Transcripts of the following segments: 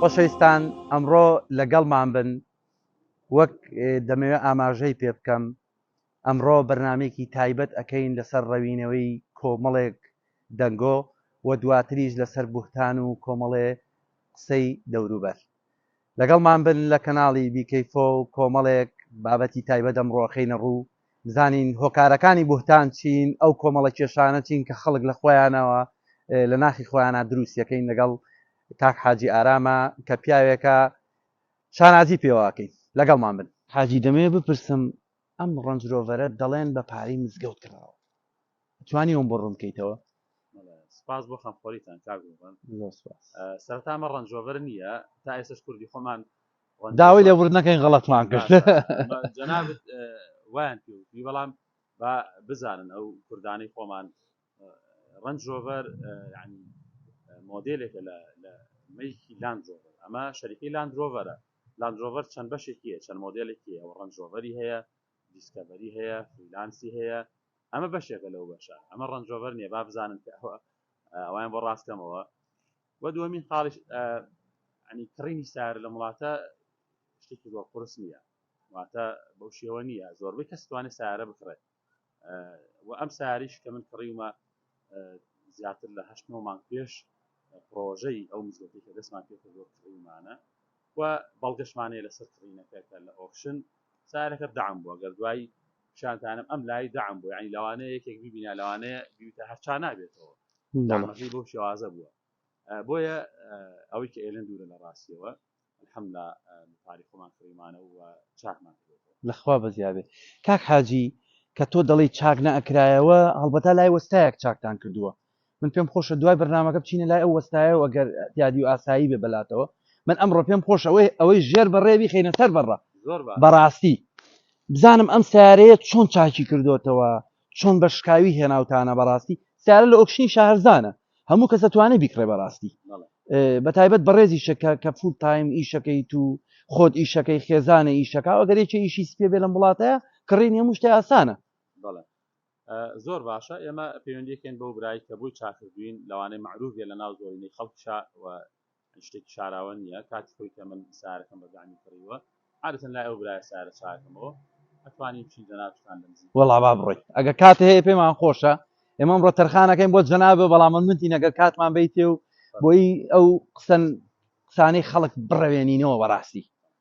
خۆشەویستان ئەمڕۆ لەگەڵمان بن وەک دەمەوێت ئاماژەی پێ بکەم ئەمڕۆ بەرنمێکی تایبەت ئەەکەین لەسەر ڕەوینەوەی کۆمەڵێک دەنگۆ و دواتریش لەسەر بوهتان و کۆمەڵێ قسەی دەوروبەر لەگەڵمان بن لە کەناڵی بیکەیفۆ و کۆمەڵێک بابەتی تایبەت ئەمڕۆ ئەخەینە ڕوو بزانین هۆکارەکانی بوهتان چین ئەو کۆمەڵە کێشانە چین کە خەڵک لە خۆیانەوە لە ناخی خۆیانە دروست یەکەین لەگەڵ کاک حاجی ئارامە کە پیاوێکە شانازی پێوە ئەکەین لەگەڵمان بن. حاجی دەمەوێ بپرسم ئەم ڕەنج ڕۆڤەرە دەڵێن بە پارەی مزگەوت کڕاوە ئەتوانی ئەوم بۆ ڕوون بکەیتەوە؟ سپاس بۆ خەمخۆریتان کاک ڕوبەن. زۆر سپاس. سەرەتا ئەمە ڕەنج ڕۆڤەر نییە تا ئێستاش کوردی خۆمان داوای لێبوردن نەکەین غەڵەتمان کرد. جەنابت وایان پێ وتووی بەڵام با بزانن ئەو کوردانەی خۆمان ڕەنج ڕۆڤەر یعنی مۆدێلێکە لە لە مەیکی لاند ڕۆڤەر ئەمە شەریکەی لاند ڕۆڤەرە لاندرۆڤەر چەند بەشێکی هەیە چەند مۆدێلێکی هەیە ئەوە ڕەنج ڕۆڤەری هەیە دیسکەڤەری هەیە فریلانسی هەیە ئەمە بەشێکە لەو بەشە ئەمە ڕەنج ڕۆڤەر نییە با بزانن کە ئەوە ئەوان بۆ ڕاستکەمەوە وە دووەمین خاڵیش ئەنی کڕینی سار لە وڵاتە شتێکی زۆر قرس نییە واتە بەو شێوە نییە زۆربەی کەس توانێت سارە بکڕێت و ئەم ساریش کە من کڕیومە زیاتر لە هەشت نۆ مانگ پێش پرۆژەی ئەو مزگەوتی کە دەستمان پێکردوە کڕیمانە و بەڵگەشمانەیە لەسەر کڕینەکە کە لە ئۆکشن سارەکە دام بووە گەر دوایی پیشانتانم ئەم لای دام بوو ینی لەوانەیە یەکێک ببینا لەوانەیە بیوتە هەرچا نابێتەوە دامەکەی بۆ شێوازە بووە بۆیە ئەوەی کە ئێلن دوورە لە ڕاستیەوە الحمدللە متاری خۆمان کڕیمانە و چاکمان کردووەتەوە. لە خوا بەزیا بێ کاک حاجی کە تۆ دەڵێی چاک نەئەکرایەوە هەڵبەتا لای وەستایەک چاکتان کردووە من پێم خۆشە دوای بەرنامەکە بچینە لای ئەو وەستایەوە ئەگەر دیادی و ئاسایی بێ بەلاتەوە من ئەمڕۆ پێم خۆش ئەوەی ئەوەی ژێر بەڕێ بیخینە سەر بەڕە بەڕاستی بزانم ئەم سیارەیە چۆن چاکی کردوتەوە چۆن بە شکاوی هێناوتانە بەڕاستی سیارە لە ئۆکشنی شاهرزانە هەموو کەس ئەتوانێ بیکڕێ بەڕاستی بە تایبەت بەڕێزیشە کە کە فول تایم ئیشەکەی تو خۆت ئیشەکەی خێزانە ئیشەکە ئەگەر یەکێ ئیشی سپێ بێ لەم وڵاتەیە کڕین هەموو شتێ ئاسانە زۆر باشە ئێمە پەیوەندیکەین بەو برای کە بۆی چاکردوین لەوانەیە معروفێ لە ناو زۆرینەی خەڵکشا شتێکی شاراوە نییە کاتی خۆی کە من سارەکەم بە گانی کڕیوە عادەتەن لای ئەو برای سارە چاکەمەوە ئەتوانی بچین جەنابتان لە نزیک وەڵا با بڕۆیت ئەگە کات هەیە پێمان خۆشە ئێمەم ڕۆ تەرخانەکەین بۆ جەنابە بەڵام من منتی نەگەر کاتمان بیتێ و بۆی ئەو قسەن قسانەی خەڵک بڕەوێنینەوە بەڕاستی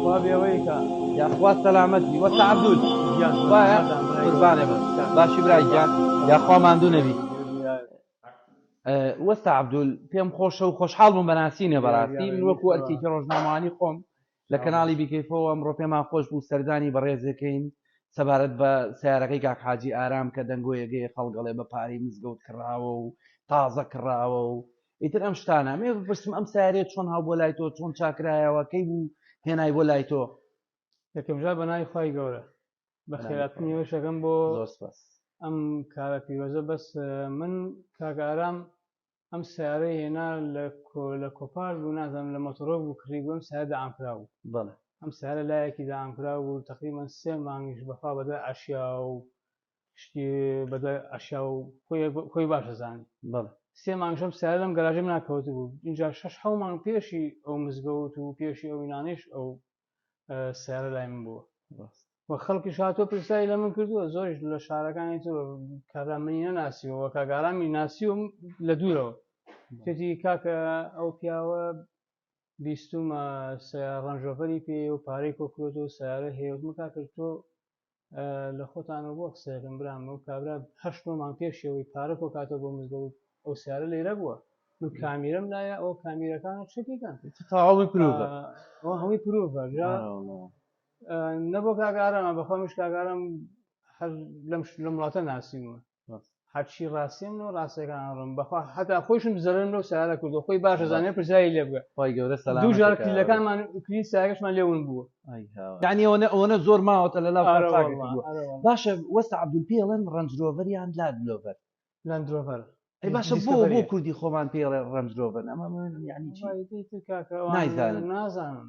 خوا بێوەی کا یاخوا سەلامەتی وەسە عەبدول گیان خوایە قوربانێ بم باشی برا گیان یاخوا ماندوو نەبی وەستا عبدول پێم خۆشە و خۆشحاڵ بووم بەناسینە بەڕاستی من وەکو ئەرکێکی ڕۆژنامەوانی خۆم لە کەناڵی بیکەیفەوە ئەمڕۆ پێمان خۆش بوو سەردانی بەڕێزەکەین سەبارەت بە سیارەکەی کاک حاجی ئارام کە دەنگۆیەگەی خەڵگەڵێ بە پارەی مزگەوت کراوە و تازە کراوە و ئیتر ئەم شتانە مێ بپرسم ئەم سارێت چۆن هاو بۆ لای تۆ چۆن چاکرایەوە کەی بوو هێنای بۆ لای تۆ یەکەمجار بە ناوی خی گەورە بە خێراتنی وەشەکەم بۆ ئەم کارە پیرۆزە بەس من کاگارام ئەم سیارەی هێنا لە لە کۆپار بوو نازم لە مۆتۆرۆ بوو کڕی بووم سای دامکرا بوو بەڵێ ئەم سارە لایەکی دامکرا بوو تقریبان سێ مانگیش بەخوا بەدە ئاشیا و شتی بەدوای ئەشیا و خۆی باش دەزانی بەڵێ سێ مانگشەم سیارە لەم گەراژی من ناکەوت بوو اینجا شش حەو مانگ پێشی ئەو مزگەوت و پێشی ئەو وینانەیش ئەو سیارە لای من بووە و خەڵکی شاتۆ پرسایی لە من کردووە زۆریش لە شارەکانی تۆ کارا منی نەناسیەوە کاگارامی ناسی و لە دوورەوە تێتی کاکە ئەو پیاوە بیستومە ڕەنجۆفەری پێ و پارەی کۆکرۆت و سیارە هەیە وتمە کاکە تۆ لە خۆتانەوە بۆ قسەکەم برام و کابرا هەشت نۆ مانگ پێشی ئەوەی پارە کۆ کاتەوە بۆ مزگەوت ئەو سیارە لێرە بووە من کامیرم لایە ئەو کامیرەکان چەکیکەن تاڵی پرۆڤە ئەو هەمووی پرۆڤە نەبوو کاگارەمە بەخۆ مش کاگارم هەر لەم لەم وڵاتە ناسیمە هەرچی ڕاستیم و ڕاستەکان ڕم بەخوا هەتا خۆشم زەرم لەو سارە کردو خۆی باش زانێ پرسایی لێ بگە خۆی گەورە سەلاجار کلیلەکانمان کلی ساگەشمان لێون بووە یعنی ئەوە ئەوەنە زۆر ماوەتە لە لاو باشە وەستا عبدول پێڵێن ڕەنجرۆڤەریان لاد لۆڤەر لەندرۆڤەر ئەی باشە بۆ بۆ کوردی خۆمان پێڵێ ڕەنجرۆڤەر ئەمە یعنی نازانم نازانم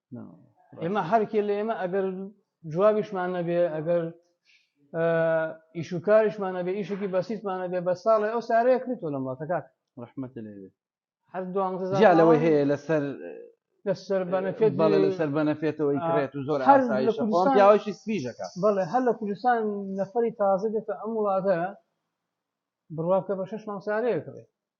ئێمە هەرکێ لە ئێمە ئەگەر جوابیشمان نەبێ ئەگەر ئیشوکاریشمانە بێ ئیشێکی بەسیتمانە بێ بە ساڵێ ئەو سارەیە کرد تۆ لەم وڵاتەکات ڕحمەت لێوێ هەر دوانزە لەوەی هەیە لەسەر لەسەر بەنەفێت بەڵێ لەسەر بەنەفێتەوەی کرێت و زۆر پیاوەشی سپیژەکە بڵێ هەر لە کوردستان نەفری تازە دێتە ئەم وڵاتە بڕواکە بە شش مانسارەیە کڕێت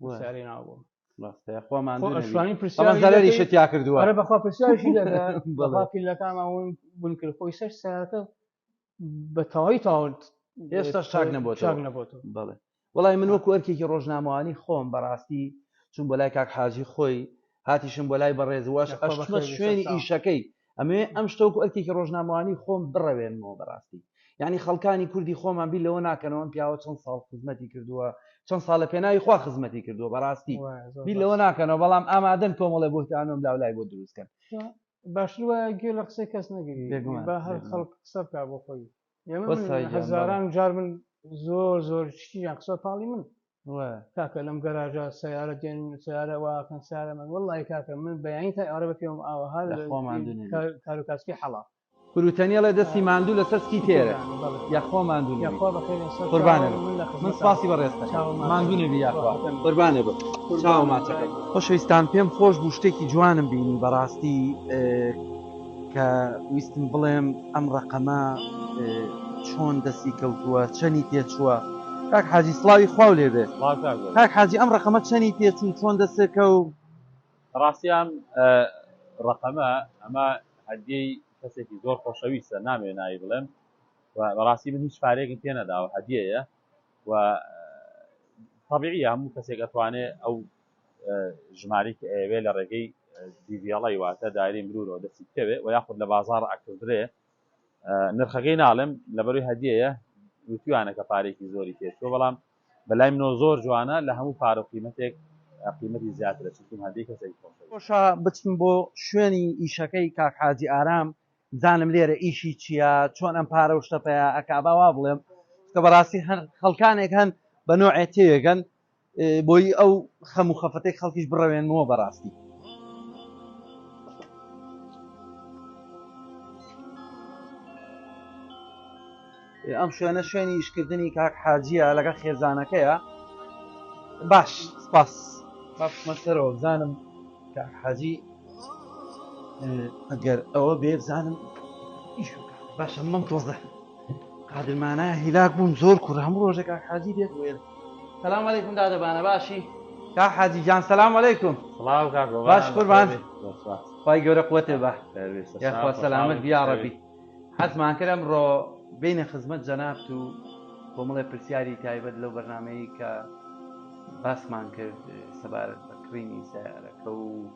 پرسیاری ناوبووم خۆمانشوانی پرسیاری شتیا کردووە ئەرە بەخوا پرسیارشی لەکانمان ون بون کرد خۆی سەر ساکە بە تەواوی تاون ئێستا شاک نەبوو شاک نەبوو بڵێ وڵی من وەکو ئەرکێکی ڕۆژنامەوانی خۆم بەڕاستی چون بۆ لای کاک حاجی خۆی هاتیشم بۆ لای بەڕێزوەش ئەشمە شوێنی ئیشەکەی ئەمێ ئەم شتۆکو ئەرکێکی ڕۆژنامەوانی خۆم بڕەوێنمەوە بەڕاستی یعنی خەڵکانی کوردی خۆمان بی لەوە ناکەنەوەم پیاوە چەند ساڵ خزمەتی کردووە چەند ساڵ لە پێناوی خوا خزمەتی کردووە بەڕاستی بی لەوە ناکەنەوە بەڵام ئامادەن کۆمەڵێ بۆتانم لاولای بۆ دروستکەن باشتر وایە گوێ لە قسەی کەس نەگری بە هەر خەڵک قسە بکە بۆ خۆی هەزاران جار من زۆر زۆر شتیان قسە پاڵی من کاکە لەم گەراژە سیارە دێن سیارە واکەن سارە من وڵی کاکە من بەیانی تا ئەوە بە پێم ئاوەها کارو کاسکی حەڵا بروتەنیڵێ دەستی ماندوو لە سەسکی تێرە یاخوا ماندوو قوربانە من سپاسی بە ڕێستە ماندوو نەبی یاخوا قوربانە بە چاو ماچەکە خۆشەویستان پێم خۆش بوو شتێکی جوانم بینی بەڕاستی کە ویستم بڵێم ئەم ڕقەمە چۆن دەستی کەوتووە چەنی تێچووە کاک حاجی سلاوی خواو لێ بێت کاک حاجی ئەم ڕقەمە چەنی تێچوو چۆن دەستێکە و ڕاستیان ڕقەمە ئەمە هەدیەی کەسێکی زۆر خۆشەویستە نامێ ناوی بڵێم بەڕاستی من هیچ پارێکم پێ نەداوە هەدیەیە و طبیعی هەموو کەسێک ئەتوانێ ئەو ژمارەی کە ئەیەوێ لە ڕێگەی دیڤڵی واتە دایری مرورەوە دەستی بکەوێ و یاخود لە بازار ئەکردرێ نرخەکەی ناڵێم لەبەروی هەدیەیە وتویانە کە پارێکی زۆری پێچوە بەڵام بەلای منۆ زۆر جوانە لە هەموو پارە قیمەتێک قیمەتی زیاترە چون هەدی کەسێک خۆشە بچم بۆ شوێنی ئیشەکەی کاک حاجی ئارام زانم لێرە ئیشی چییە چۆن ئەم پارە و شتە پێ ئەکبا وا بڵێم کە بەڕاستی هەر خەڵکانێک هەن بە نوعێ تێگەن بۆی ئەو خەم و خەفەتەی خەڵکیش بڕەوێنمەوە بەڕاستی ئەم شوێنە شوێنی ئیشکردنی کاک حاجیە لەگەڵ خێزانەکەیە باش سپاس باشمەسەرەوە بزانم کاک حاجی ئەگەر ئەوە بێ بزانم باشە مەم تۆزە قادرمانە هیلاک بووم زۆر کوڕ هەموو ڕۆژێک کاک حاجی دێت وێر سلام علیکم دادەبانە باشی کا حاجی جان سلام علیکم سڵاو کاک بابا باش قوربان خی گەورە قوتێ بە یاخوا سەلامت بیاڕەبی حەزمان کرد ئەمڕۆ بینە خزمەت جەنابت و کۆمەڵێ پرسیاری تایبەت لەو بەرنمەیە کە باسمان کرد سەبارەت بە کڕینی سیارەکە و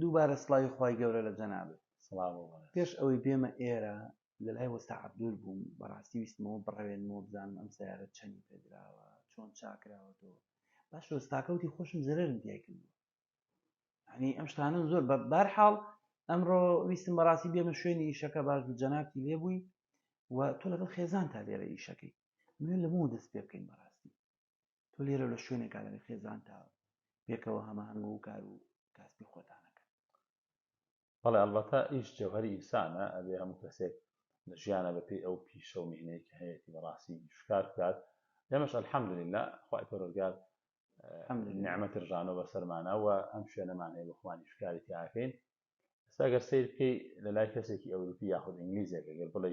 دووبارە سڵاوی خوای گەورە لە جەنابت پێش ئەوەی بێمە ئێرە لە لای وەستا عەبدول بووم بەڕاستی ویستمەوە بڕەوێنمەوە بزانم ئەم سیارە چەنی پێدراوە چۆن چاکراوەتەوە باش وەستاکەوتی خۆشم زررم دیای کردووە هەنی ئەم شتانە زۆر بە بارحاڵ ئەمڕۆ ویستم بەڕاستی بێمە شوێنی ئیشەکە باش بوو جەنابتی لێبووی و تۆ لەگەڵ خێزان تا لێرە ئیشەکەی من لە بۆ دەست پێ بکەین بەڕاستی تۆ لێرە لە شوێنێکا لەگەر خێزان تا پێکەوە هەماهەنگ و کار و کاسبی خۆتانەکەن بەڵێ ئەڵبەتە ئیش جەوهەری ئینسانە ئەبێ هەموو کەسێک لە ژیانە بەپێی ئەو پیشە و میهنەی کە هەیەتی بەڕاستی شکار بکات ئێمەش الحمدللە خوای پەروەردگار نعمەتی ڕژانەوە بەسەرمانە و ئەم شوێنەمان هەیە بە خوانی شکاری تیاکەین ئێستا گەر سیر بکەی لە لای کەسێکی ئەوروپی یاخود ئینگلیزێک گەر بڵێ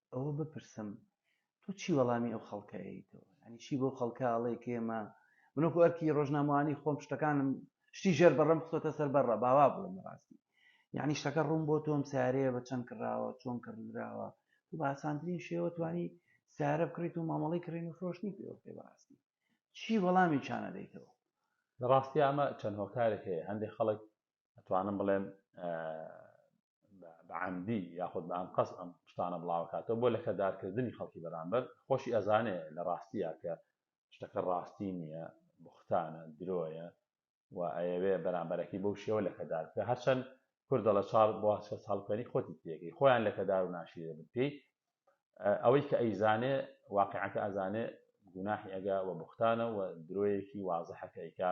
ئەوە بپرسم تۆ چی وەڵامی ئەو خەڵکەیتەوە ینی چی بەو خەڵکە ئەڵێ کێمە منۆک ئەرکی ڕۆژنامەوانی خۆم شتەکانم شتی ژێر بەڕم خۆتە سەر بەڕە باوا بڵم ڕاستی یعنی شتەکە ڕوون بۆ تۆم سارەیە بە چەند کراوە چۆن کردراوە تو باسانترین شێوە توانی سارە بکڕیت و مامەڵی کڕین و فرۆشتنی پێوە پێ بەڕاستی چی وەڵامی چانە دەیتەوە لە ڕاستی ئەمە چەند هۆکارێک هەیە هەندێک خەڵک ئەتوانم بڵێم بە عەمدی یاخود بە ئەنقەست ئەم شتانە بڵاوکاتەوە بۆ لەکەدارکردنی خەڵکی بەرامبەر، خۆشی ئەزانێ لە ڕاستیا کە شتەکە ڕاستی نیە، بوختانە، درۆیە و ئەیەوێ بەرامبەرەکەی بەو شێوە لەکەدار بکا، هەرچەند کورد دەڵێ چاڵ بۆ کەس هەڵکەنی خۆتی تێکەی، خۆیان لەکەدار و ناشیرین بن پێی، ئەوەی کە ئەیزانێ واقیعەکە ئەزانێ گوناحی ئەگا و بوختانە و درۆیەکی وازحە کە ئەیکا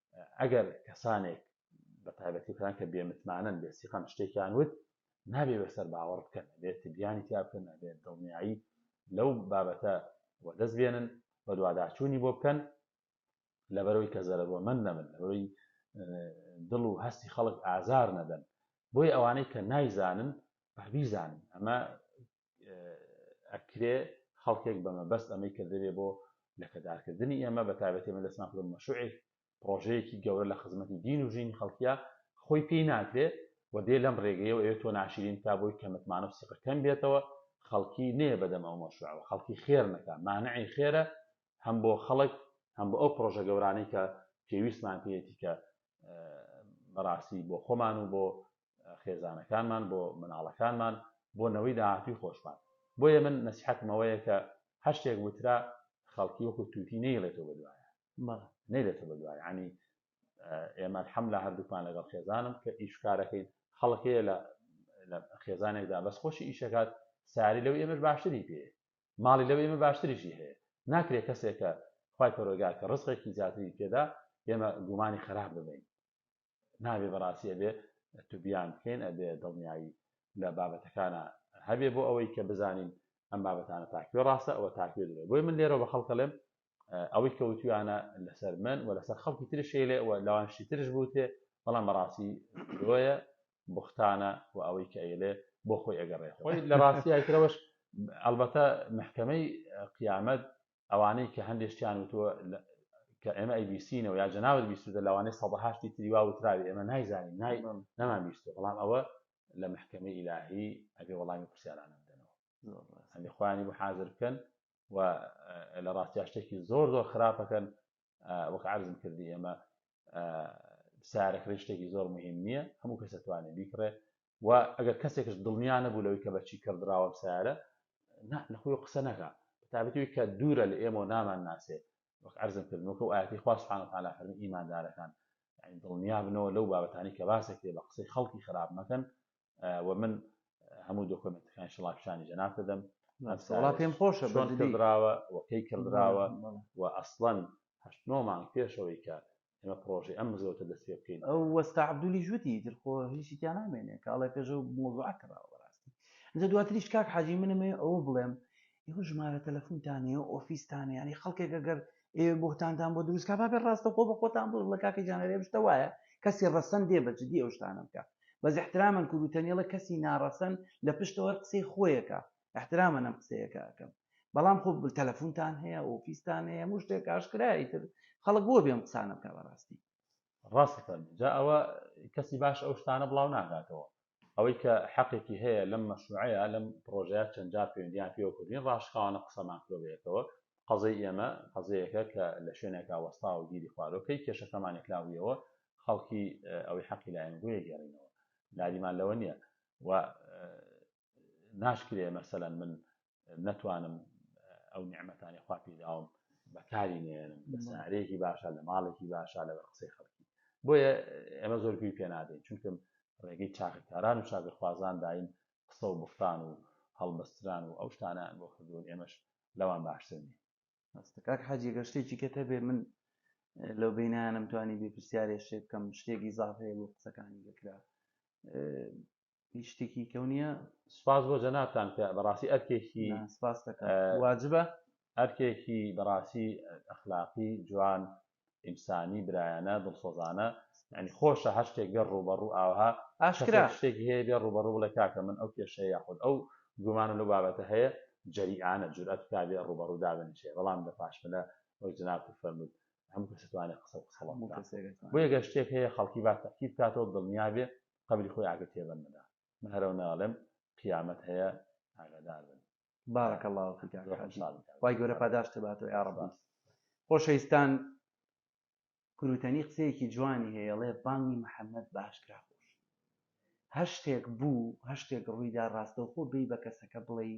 ئەگەر کەسانێک بە تایبەتی کەسان کە بێمتمانەن بێ سیقەن شتێکیان وت نابێ بەسەر باوەڕ بکەن بێت تبیانی تیا بکەن نابێت دڵنیایی لەو بابەتە وەدەست بێنن بە دوواداچوونی بۆ بکەن لەبەرەوەی کە زەرەروەمەند نەبن لەبەرەوەی دڵ و هەستی خەڵک ئازار نەدەن بۆی ئەوانەی کە نایزانن بیزانن ئەمە ئەکرێ خەڵکێک بە مەبەست ئەمەی کردبێ بۆ لەکەدارکردنی ئێمە بە تابەتی من دەستمان کردم مەشوعێک پرۆژەیەکی گەورە لە خزمەتی دین و ژینی خەڵکیە خۆی پێی ناکرێ و دێ لەم ڕێگەیەوە ئەوێت تۆ ناشرین کا بۆی کە متمانە و سیقە کەم بێتەوە خەڵکی نێ بەدەم ئەو مەشوعەوە خەڵکی خێر نەکە مانعی خێرە هەم بۆ خەڵک هەم بۆ ئەو پرۆژە گەورانەی کە پێویستمان پێیەتی کە بەڕاستی بۆ خۆمان و بۆ خێزانەکانمان بۆ مناڵەکانمان بۆ نەوەی داهاتووی خۆشمان بۆیە من نەسیحەتمەوەیە کە هەشتێک وترا خەڵکی وەکو تووتی نەیڵێتەوە بەدوایە نەیلێتە بەدوای عنی ئێمە حەم لە هەردووکمان لەگەڵ خێزانم کە ئیشکارەکەین خەڵکەیە لە لە خێزانێکدا بەس خۆشی ئیشەکات ساری لەو ئێمەش باشتری پێ ماڵی لەو ئێمە باشتریشی هەیە ناکرێت کەسێکە خی پەرۆگا کە ڕزقێکی زیاتری پێدا ئێمە گومانی خراپ ببین نابێ بەڕاستی ئەبێ توبیان بکەین ئەبێ دڵنیایی لە بابەتەکانە هەبێ بۆ ئەوەی کە بزانین ئەم بابەتانە تاکوێ ڕاستە ئەوە تاکوێ درێ بۆی من لێرەوە بە خەڵکەڵێم ئەوەی کەوتویانە لەسەر من و لەسەر خەڵکی ترشێ لێ ئەوە لەوانشی ترش بوتێ بەڵام بەڕاستی درۆیە بختانە و ئەوەی کە ئەیلێ بۆ خۆی ئەگەڕێ خۆی لە ڕاستیایترەوەش ئەلبەتە محکەمەی قیامەت ئەوانەی کە هەندێک شتیان وتووە کە ئێمە ئەی بیستینەوە یا جەناوت بیستوتە لەوانەیە سەدە هەشتی تری وا وتراوی ئێمە نایزانین نای نەمان بیستوە بەڵام ئەوە لە محکەمەی ئیلاهی ئەبێ وەڵامی پرسیارانە بدەنەوە ئەنی خۆیانی بۆ حاضر بکەن و لە ڕاستیا شتێکی زۆر زۆر خراپەکەن وەک عرضم کردی ئێمە سارەکڕی شتێکی زۆر مهم نییە هەموو کەسەتوانێت بیکڕێ و ئەگەر کەسێکش دڵنیا نەبوو لەوەی کە بەچی کڕدراوە ئەم سەیارە نا لە خۆی قسە نەکا بەتابەتەوەی کە دوورە لە ئێمە و نامان ناسێ وەک عەرزم کرد وەکە و ئاەتی خوا سبحانە وتعالی فەرمی ئیماندارەکان یعنی دڵنیا بنەوە لەو بابەتانی کە باسێک لێ بە قسەی خەڵکی خراپ مەکەن و من هەموو دۆکۆمنتەکان شڵا پیشانی جەناب دەدەم وڵا پێم خۆشە چۆن کردراوە وەکەی کردراوە و ئەسڵەن هەشت نۆ مانگ پێشەوەی کە ئێمە پڕۆژەی ئەم مزگەوتە دەست پێ بکەین. ئەو وەستا عەبدولیش وتی، ئیتر خۆ هیچی تیا نامێنێ، کە ئەڵێ پێش ئەو مەوزوعە کراوە بەڕاستی. ئینجا دواتریش کاک حاجی من ئەمەوێ ئەوە بڵێم، ئێوە ژمارە تەلەفونتان هەیە، ئۆفیستان هەیە، یانی خەڵکێک ئەگەر ئێوێ بوهتانتان بۆ دروست کا، با بێ ڕاستەوخۆ بە خۆتان بڵێ، بڵێ کاکە گیان ئەرێ ئەم شتە وایە، کەسی ڕەسەن دێ بە جدی ئەو شتانە بکا. بەس ئیحترامەن کورد و تەنێڵە کەسی ناڕەسەن لە پشتەوە هەر قسەی خۆیەکا، احترامەن ئەم قسەیە کە ئەکەم بەڵام خۆ تەلەفونتان هەیە ئۆفیستان هەیە هەموو شتێک ئاشکرایە ئیتر خەڵک بۆ بێ ئەم قسانە بکا بەڕاستی ڕاست ئەفەرموو جا ئەوە کەسی باش ئەو شتانە بڵاو ناکاتەوە ئەوەی کە حەقێکی هەیە لەم مەشروعەیە لەم پڕۆژەیە چەند جار پەیوەندییان پێوە کردین ڕاشکاوانە قسەمان کردووە بە یەکەوە قەزەی ئێمە قەزەیەکە کە لە شوێنێکا وەستاوە و گیری خواردەوە کەی کێشەکەمان یەکلابوویەوە خەڵکی ئەوەی حەقی لایەن بۆیە گێڕینەوە لادیمان لەوە نییە و ناشکرێ مەسەلەن من نەتوانم ئەو نیعممەتانی خوا پیداوم بەکاری نێنم لە سارێکی باشە لە ماڵێکی باشە لە قسەی خەڵکی بۆیە ئێمە زۆر گوی پێ نادەین چونکەم ڕێگەی چاکەکاران و چاکەخوازان داین قسە و بختان و هەڵبەستران و ئەو شتانە بۆ کردوون ئێمەش لەوان باشتر نیە هەستەکاک حاجی گەشتێکی کە تەبێ من لەو بینانم توانی بێ پرسیارێ شێ بکەم شتێکی زاافەیە بۆ قسەکانی گەکرا هیچ شتێکی کەو نییە سپاس بۆ جەنابان کە بەڕاستی ئەرکێکی سپاس واجبە ئەرکێکی بەڕاستی ئەخلاقی جوان ئینسانی برایانە دڵسۆزانە ینی خۆشە هەر شتێک بێ ڕوبەڕوو ئاها ئاشکرا شتێکی هەیە بێ ڕوبەڕوو بڵێ کاکە من ئەو کێشەیە یاخود ئەو گومانە لەو بابەتە هەیە جەریانە جورئەت کا بێ ڕوبەڕوو دابنیشێ بەڵام لە پاشملە وەک جناب فەرمووت هەموو کەسوانێت قسە قسەڵ بۆ گەشتێک هەیە خەڵکی با تەکیب کاتەوە دڵنیابێ قەبری خۆی ئاگر تێبەن نەدا من هەرەو ناڵێم قیامەت هەیە ئاگادار بن بارک الله فیک کاک حاجی خوای گەورە پاداشت باتەوە یا رب خۆشەویستان کروتەنی قسەیەکی جوانی هەیە ڵێ بانگی محەممەد باشکرا خۆش هەشتێک بوو هەشتێک ڕوویدا ڕاستەوخۆ بی بە کەسەکە بڵێ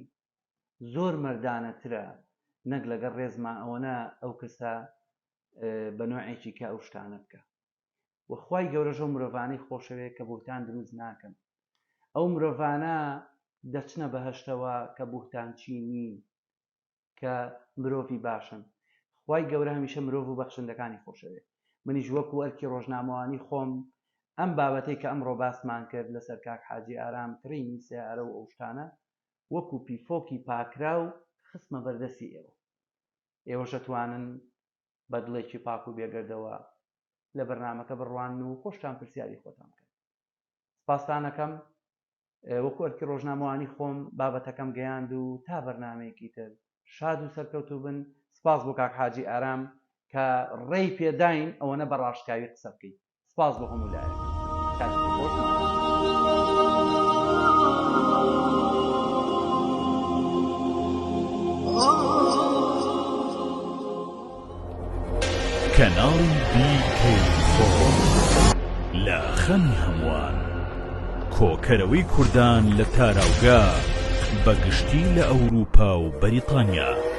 زۆر مردانەترە نەک لەگەڵ ڕێزما ئەوەنە ئەو کەسە بە نوعێکی کە ئەو شتانە بکە و خوای گەورەش ئەو مرۆڤانەی خۆشەوێت کە بوهتان دروست ناکەن ئەو مرۆڤانە دەچنە بەهەشتەوە کە بوهتانچی نین کە مرۆڤی باشن خوای گەورە هەمیشە مرۆڤ و بەخشندەکانی خۆشەوێت منیش وەکو ئەرکی ڕۆژنامەوانی خۆم ئەم بابەتەی کە ئەمڕۆ باسمان کرد لەسەر کاک حاجی ئارام کڕینی سەیارە و ئەو شتانە وەکو پیفۆکی پاکراو خستمە بەردەستی ئێوە ئێوەش ئەتوانن بە دڵێکی پاک و بێگەردەوە لە بەرنامەکە بڕوانن و خۆشتان پرسیاری خۆتان بکەن سپاستانەکەم وەکو ئەرکی ڕۆژنامەوانی خۆم بابەتەکەم گەیاند و تا بەرنمەیەکی تر شاد و سەرکەوتو بن سپاس بۆ کاک حاجی ئارام کە ڕێی پێداین ئەوەنە بە ڕاشکاوی قسە بکەیت سپاس بۆ هەموو لایەک کاتێکی کەناڵی لە خەمی هەمووان کۆکەرەوەی کوردان لە تاراوگە بەگشتی لە ئەوروپا و بەریتانیا.